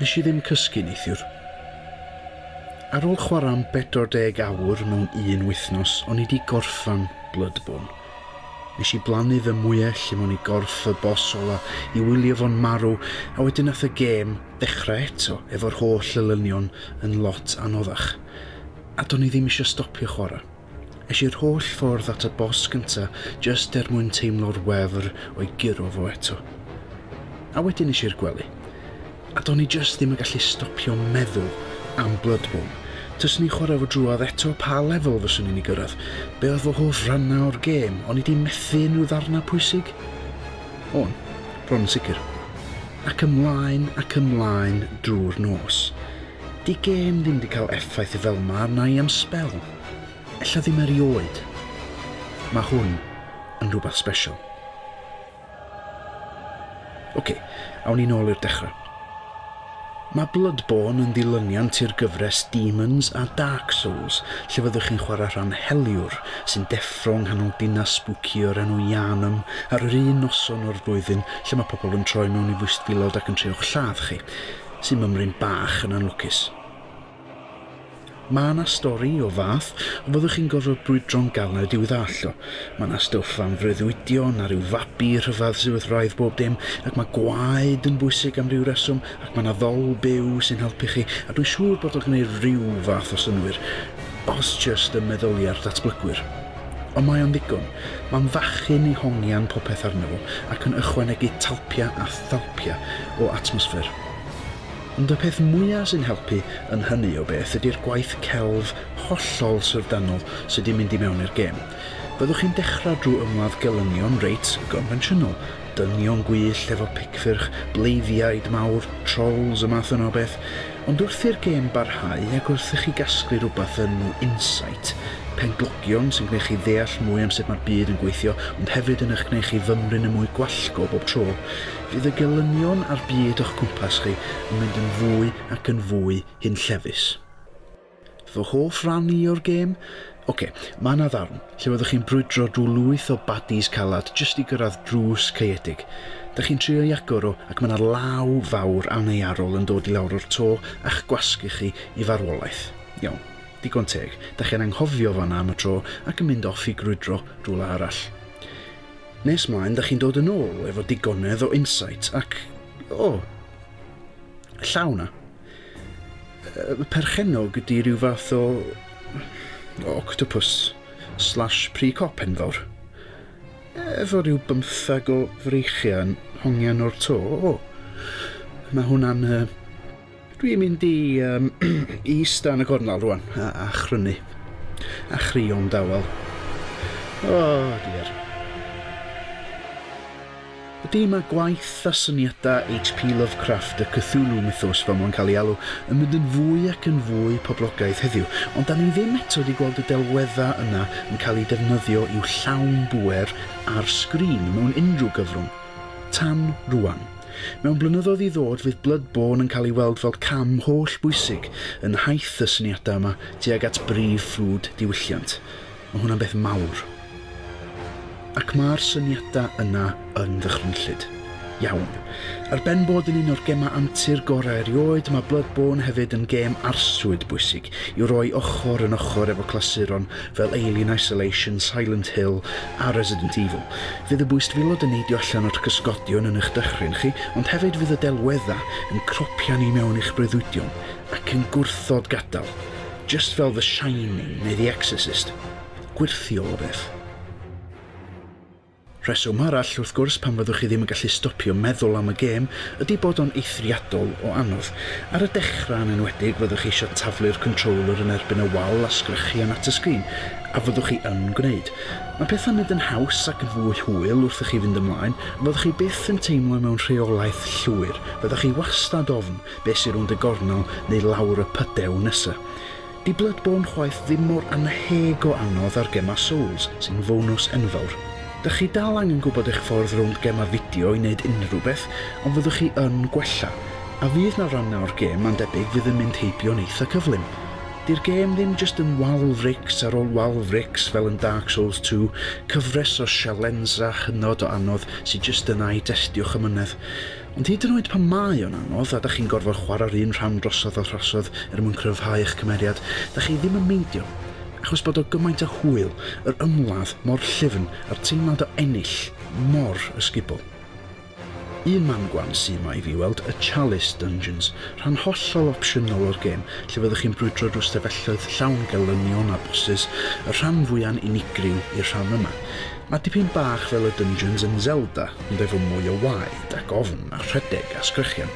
Nes i ddim cysgu neithiwr. Ar ôl chwarae am 40 awr mewn un wythnos, o'n i 'di gorffan Bloodborne. Nes i blannu fy mwyell lle mewn i gorff y boss ola i wylio fo'n marw a wedyn nath y gêm ddechrau eto efo'r holl elynion yn lot anoddach. A do'n i ddim isio stopio chwarae. Es i'r holl ffordd at y bos gynta jyst er mwyn teimlo'r wefr o'i guro fo eto. A wedyn es i'r gwely. A do'n i jyst ddim yn gallu stopio meddwl am Bloodborne. Taswn i'n chwarae fo drwodd eto pa lefel fyswn i'n ei gyrraedd? Be oedd fy hoff rannau o'r gêm? O'n i 'di methu unrhyw ddarnau pwysig? O'n, bron yn sicr. Ac ymlaen ac ymlaen drwy'r nos. 'Di gêm ddim 'di cael effaith fel'ma arna i am sbel. Ella ddim erioed. Mae hwn yn rhywbeth special. Ok, awn ni nôl i'r dechrau. Mae Bloodborne yn ddilyniant i'r gyfres Demons a Dark Souls, lle fyddwch chi'n chwarae rhan heliwr sy'n deffro yng nghanol dinas spooky o'r enw Yharnam ar yr un noson o'r flwyddyn lle mae pobl yn troi mewn i fwystfilod ac yn trio'ch lladd chi, sy'n mymryn bach yn anlwcus. Mae 'na stori o fath a fyddwch chi'n gorfod brwydro'n galed i'w ddallt o. Mae 'na stwff am freuddwydion a rhyw fabi rhyfedd sydd wrth wraidd bob dim, ac mae gwaed yn bwysig am ryw reswm, ac mae 'na ddol byw sy'n helpu chi, a dwi'n siŵr bod o'n gwneud rhyw fath o synnwyr, os jyst ym meddyliau'r datblygwyr. Ond mae o'n ddigon. Mae'n fachyn i hongian popeth arno fo, ac yn ychwanegu talpiau a thalpiau o atmosffer. Ond y peth mwya' sy'n helpu yn hynny o beth ydi'r gwaith celf hollol syfrdanol sy' 'di mynd i mewn i'r gêm. Fyddwch chi'n dechra' drw' ymladd gelynion reit gonfensiynol, dynion gwyllt efo picffyrch, bleiddiaid mawr, trolls, y math yna o beth, ond wrth i'r gêm barhau ac wrth i chi gasglu rwbath yn insight, pen-glogion sy'n g'neu' chi ddeall mwy am sut ma'r byd yn gweithio ond hefyd yn y'ch g'neu' chi fymryn yn mwy gwallgo bob tro, Fydd y gelynion â'r byd o'ch cwmpas chi yn mynd yn fwy ac yn fwy hunllefus. Fy hoff ran i o'r gêm? Ok, mae yna ddarn lle fyddwch chi'n brwydro drwy lwyth o baddies calad jyst i gyrraedd drws caeedig. Dych chi'n trio i agor o ac mae yna law fawr annearol yn dod i lawr o'r to a'ch gwasgu chi i farwolaeth. Iawn, digon teg, dych chi'n anghofio fan'na am y tro ac yn mynd off i grwydro rhywle arall. Nes mlaen dych chi'n dod yn ôl efo digonedd o insight ac, o, llaw na. Y perchennog ydy rhyw fath o... o octopus slash pre-cop enfawr. Efo rhyw bymthag o freichiau yn hongian o'r to, o. Mae hwnna'n... Dwi'n mynd i um, eista yn y gornel rwan a, a chrynu. A chrio'n dawel. O, oh, diar. Ydy mae gwaith a syniadau H.P. Lovecraft y Cthulhu mythos fel mae'n cael ei alw yn mynd yn fwy ac yn fwy poblogaidd heddiw, ond da ni ddim eto wedi gweld y delweddau yna yn cael eu defnyddio i'w llawn bwer ar sgrin mewn unrhyw gyfrwng. Tan rwan. Mewn blynyddoedd i ddod fydd Bloodborne yn cael ei weld fel cam holl bwysig yn nhaith y syniadau yma tuag at brif ffrwd diwylliant. Mae hwnna'n beth mawr. Ac mae'r syniadau yna yn ddychrynllyd. Iawn. Ar ben bod yn un o'r gemau antur gorau erioed, mae Bloodborne hefyd yn gêm arswyd bwysig i'w roi ochr yn ochr efo clasuron fel Alien Isolation, Silent Hill a Resident Evil. Fydd y bwystfilod yn neidio allan o'r cysgodion yn eich dychryn chi, ond hefyd fydd y delweddau yn cropian i mewn i'ch breuddwydion ac yn gwrthod gadael, jyst fel The Shining neu The Exorcist. Gwyrthiol o beth. Rheswm arall, wrth gwrs, pam fyddwch chi ddim yn gallu stopio meddwl am y gêm ydy bod o'n eithriadol o anodd. Ar y dechrau yn enwedig, fyddwch chi eisiau taflu'r controller yn erbyn y wal a sgrechian at y sgrin, A fyddwch chi yn gwneud? Mae pethau'n mynd yn haws ac yn fwy hwyl wrth i chi fynd ymlaen, a fyddwch chi byth yn teimlo mewn rheolaeth llwyr, fyddwch chi wastad ofn be sy rownd y gornel neu lawr y pydew nesa. Di Bloodborne chwaith ddim mor annheg o anodd â'r gemau Souls, sy'n fonws enfawr. Dych chi dal angen gwybod eich ffordd rownd gemau fideo i wneud unrhyw beth, ond fyddwch chi yn gwella, a fydd 'na rannau o'r gem mae'n debyg fydd yn mynd heibio'n eitha cyflym. Di'r gêm ddim jyst yn wal frics ar ôl wal frics fel yn Dark Souls 2, cyfres o sialensra hynod o anodd sy jyst yna i destio'ch amynedd. Ond hyd yn oed pan mae o'n anodd a 'dach chi'n gorfod chwarae'r un rhan drosodd a throsodd er mwyn cryfhau eich cymeriad, 'dach chi ddim yn meindio achos bod o gymaint o hwyl, yr ymladd mor llyfn a'r teimlad o ennill mor ysgubol. Un man gwan sy 'ma i fi weld y Chalice Dungeons, rhan hollol opsiynol o'r gêm, lle fyddwch chi'n brwydro drwy stafelloedd llawn gelynion a bosses, y rhan fwya'n unigryw i'r rhan yma. Mae dipyn bach fel y dungeons yn Zelda, ond efo mwy o waed ac ofn a rhedeg a sgrechian.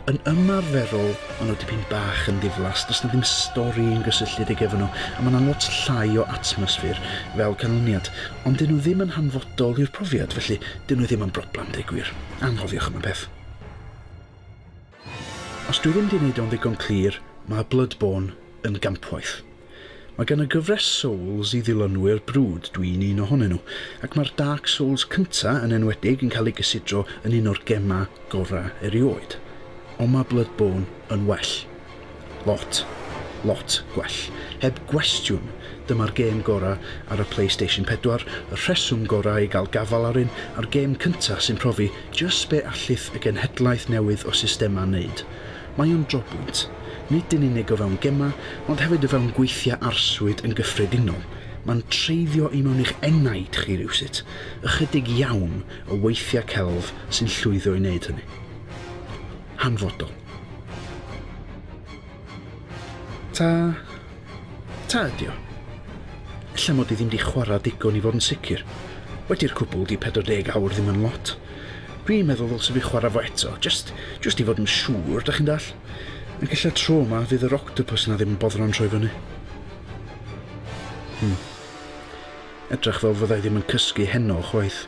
Yn ymarferol, maen nhw dipyn bach yn ddiflas, does na ddim stori yn gysylltiedig efo nhw, a mae yna lot llai o atmosffer fel canlyniad. Ond dyn nhw ddim yn hanfodol i'r profiad, felly dyn nhw ddim yn broblem, deud gwir. Anghofiwch am y peth. Os dwi ddim di wneud o'n ddigon clir, mae Bloodborne yn gampwaith. Mae gan y gyfres Souls i ddilynwyr brwd, dwi'n un ohonyn nhw, ac mae'r Dark Souls cyntaf yn enwedig yn cael ei gysidro yn un o'r gemau gorau erioed. Ond mae Bloodborne yn well. Lot, lot gwell. Heb gwestiwn, dyma'r gêm gorau ar y Playstation 4, y rheswm gorau i gael gafael ar un, a'r gêm cyntaf sy'n profi jyst be allith y genhedlaeth newydd o systemau wneud. Mae o'n drobwynt, nid yn unig o fewn gemau, ond hefyd o fewn gweithiau arswyd yn gyffredinol. Mae'n treiddio i mewn i'ch enaid chi rywsut. Ychydig iawn o weithiau celf sy'n llwyddo i wneud hynny. Hanfodol. Ta. Ta ydio? Ella mod i ddim di chwara digon i fod yn sicr. Wedi'r cwbwl di 40 awr ddim yn lot. Dwi'n meddwl ddylse fi chwara fo eto, jyst jyst i fod yn siŵr, dach chi'n dall? Ac ella tro ma fydd yr octopus na ddim yn boddran troi fyny. Hmm. Edrach fel fyddai ddim yn cysgu heno chwaith.